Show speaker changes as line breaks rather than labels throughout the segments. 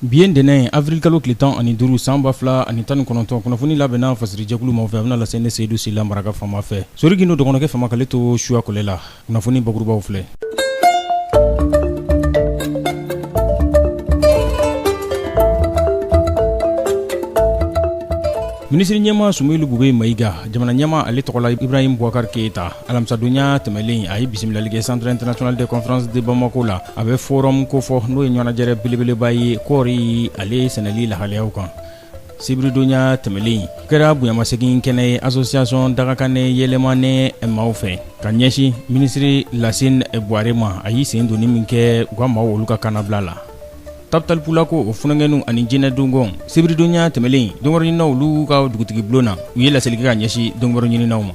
Bi ye ntɛnɛn ye
avril kalo tile 15 san 2019 kunnafoni labɛnna fasirijɛkulu maaw fɛ a bɛna lase ne Seyidu Sila maraka faama fɛ Sori Gindo dɔgɔnɔkɛ faama k'ale to suya kɔlɛ la kunnafoni bakurubaw filɛ Minisiriɲɛmaa Sumeyilu Bube Mayiga jamanaɲɛmaa ale tɔgɔ la Ibrahim Boubacar Keita alamisadonya tɛmɛnlen a ye bisimilali kɛ centre international de conférence de bamako la a bɛ forum kofɔ n'o ye ɲɔgɔnnajɛrɛ belebeleba ye kɔɔri ale sɛnɛli lahalayaw kan sibiridonya tɛmɛnlen kɛra bonyamasegin kɛnɛ ye association dagakanɛ Yelimane maaw fɛ ka ɲɛsin minisiri lasin buware ma a y'i sen donni min kɛ u ka maaw olu ka kannabila la Tabitali Pulako o funankɛninw ani Jina Dogon sibiridonya tɛmɛnlen donkibaruɲininaw olu ka dugutigibulon na u ye laseli kɛ ka ɲɛsin donkibaruɲininaw ma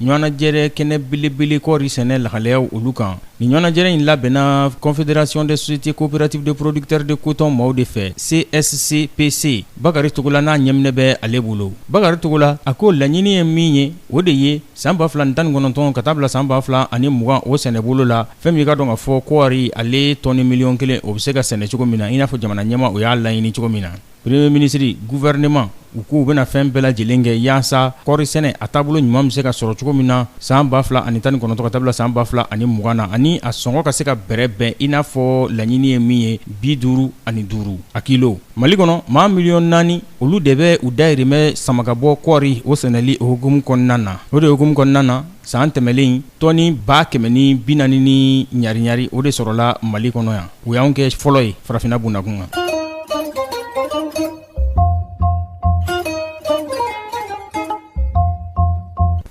Ɲɔgɔnnajɛrɛ kɛnɛ belebele kɔɔri sɛnɛ lahalayaw olu kan nin ɲɔgɔnnajɛrɛ in labɛnna confédération des sociétés coopératives de producteurs de coton maaw de fɛ CSCPC Bakari Togola n'a ɲɛminɛ bɛ ale bolo Bakari Togola a ko laɲini ye min ye o de ye san 2019 ka taa bila san 2020 o sɛnɛ bolo la fɛn min i k'a dɔn k'a fɔ kɔɔri ale tɔni miliyɔn kelen o bɛ se ka sɛnɛ cogo min na i n'a fɔ jamana ɲɛmaa o y'a laɲini cogo min na Premier ministre, gouvernement u k'u bɛna fɛn bɛɛ lajɛlen kɛ yaasa kɔɔri sɛnɛ a taabolo ɲuman bɛ se ka sɔrɔ cogo min na san 2019 ka taa bila san 2020 na ani a sɔngɔ ka se ka bɛrɛbɛn i n'a fɔ laɲini ye min ye bi duuru ani duuru a kilo. Mali kɔnɔ, maa miliyɔn naani olu de bɛ u dahirimɛ sama ka bɔ kɔɔri o sɛnɛli o hukumu kɔnɔna na. O de hukumu kɔnɔna na, San tɛmɛnlen in tɔni ba kɛmɛ ni bi naani ni ɲariyaari o de sɔrɔla mali kɔnɔ yan o y'an kɛ fɔlɔ ye farafinna bundakun kan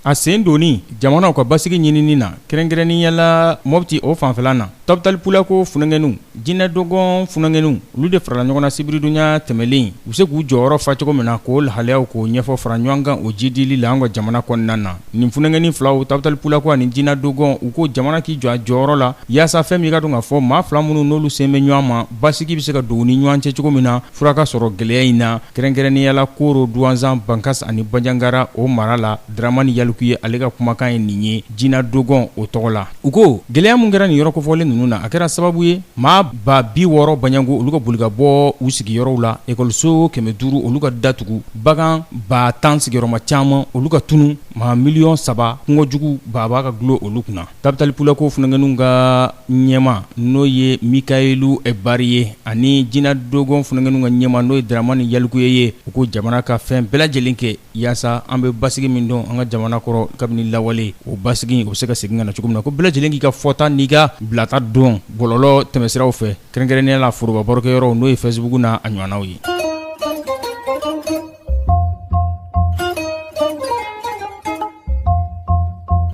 a sen donni jamana ka basigi ɲinini na kɛrɛnkɛrɛnnenya la Mopti o fanfɛla na Tabitali Pulako funankɛninw Jina Dogon funankɛninw olu de farala ɲɔgɔn na sibiridonya tɛmɛnlen u bɛ se k'u jɔyɔrɔ fa cogo min na k'o lahalayaw k'o ɲɛfɔ fara ɲɔgɔn kan o jiidili la an ka jamana kɔnɔna na nin funankɛnin filaw Tabitali Pulako ani Jina Dogon u ko jamana k'i jɔ a jɔyɔrɔ la yaasa fɛn min i k'a dɔn k'a fɔ maa fila minnu n'olu sen bɛ ɲɔgɔn ma basigi bɛ se ka don u ni ɲɔgɔn cɛ cogo min na fura ka sɔrɔ gɛlɛya in na kɛrɛnkɛrɛnnenya la Koro Duwanzan Bankas ani Banjagara o mara la Dramane Yalikuye ale ka kumakan ye nin ye Jina Dogon o tɔgɔ la U ko gɛlɛya min kɛra nin yɔrɔ kofɔlen ninnu na a kɛra sababu ye maa ba bi wɔɔrɔ baɲɛko olu ka boli ka bɔ u sigiyɔrɔw la école so 500 olu ka datugu bagan ba tan sigiyɔrɔma caman olu ka tunun maa miliyɔn saba kɔngɔ jugu baaba ka dulon olu kunna Tabitali Pulako funakɛninw ka ɲɛmaa n'o ye Mikaelu Bari ye ani Jina Dogon funakɛninw ka ɲɛmaa n'o ye Dramane Yalikuye ye u ko jamana ka fɛn bɛɛ lajɛlen kɛ Yaasa an bɛ basigi min dɔn an ka jamana kɔrɔ kabini lawale o basigi o bɛ se ka segin ka na cogo min na ko bɛɛ lajɛlen k'i ka fɔta n'i ka bilata dɔn bɔlɔlɔ tɛmɛsiraw fɛ kɛrɛnkɛrɛnnenya la foroba barokɛyɔrɔ n'o ye Facebook n'a ɲɔgɔnnaw ye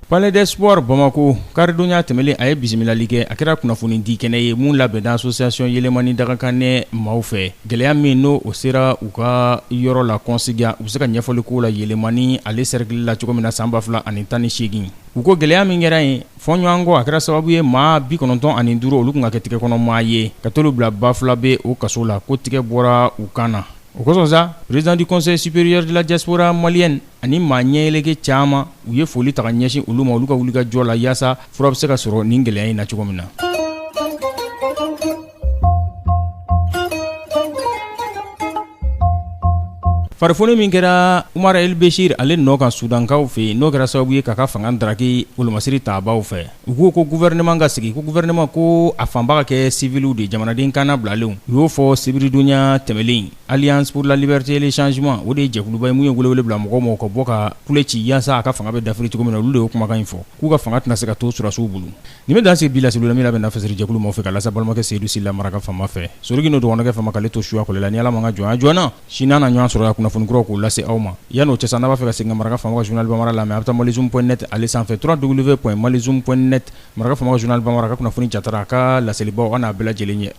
Palais des sports Bamako karidonya tɛmɛlen a ye bisimilali kɛ a kɛra kunnafoni di kɛnɛ ye mun labɛnna association Yelemani Dagakanɛ maaw fɛ gɛlɛya min n'o o sera u ka yɔrɔ la Kɔnsiga u bɛ se ka ɲɛfɔli k'o la Yelemani ale cercle la cogo min na san 2018 u ko gɛlɛya min kɛra yen fɔɲɔgɔnkɔ a kɛra sababu ye maa 95 olu kun ka kɛ tigɛkɔnɔmaa ye ka t'olu bila Bafulabɛ o kaso la ko tigɛ bɔra u kan na o kosɔn sa président du conseil supérieur de la diaspora malienne ani maa ɲɛyɛlɛkɛ caman u ye foli ta ka ɲɛsin olu ma olu ka wuli ka jɔ la yaasa fura bɛ se ka sɔrɔ nin gɛlɛya in na cogo min na farifoni min kɛra Umar El Bɛsir ale nɔ kan sudankaw fɛ yen n'o kɛra sababu ye k'a ka fanga daraki wolomasiri tabaw fɛ u ko ko gouvernement ka sigi ko gouvernement ko a fanba ka kɛ civiliw de jamanaden kannabilalenw u y'o fɔ sibiridonya tɛmɛlen Alliance pour la liberté et le changement o de ye jɛkuluba ye min ye weeleweele bila mɔgɔw ma u ka bɔ ka kule ci yaasa a ka fanga bɛ dafiri cogo min na olu de y'o kumakan in fɔ k'u ka fanga tɛna se ka to sɔrɔdasiw bolo nin bɛ dan sigi bi laseli la min labɛnna fasɛrɛjɛkulu maaw fɛ k'a lase aw balimakɛ Seyidu Sila Maraka Faama fɛ soroki n'o dɔgɔnɔkɛ faama k'ale to suya kɔlɛ la ni Ala ma an ka jɔnya jɔ an na sini an na ɲɔgɔn sɔrɔ yan kunnafoni kuraw k'o lase aw ma yan'o cɛ sa n'a b'a fɛ ka segin ka Maraka Faama ka journal Banbara lamɛn a bɛ taa malizoom point net ale sanfɛ www.malizoom.net Maraka Faama ka journal Banbara a ka kunnafoni jatara a ka laselibaw an n'a bɛɛ lajɛlen ɲɛ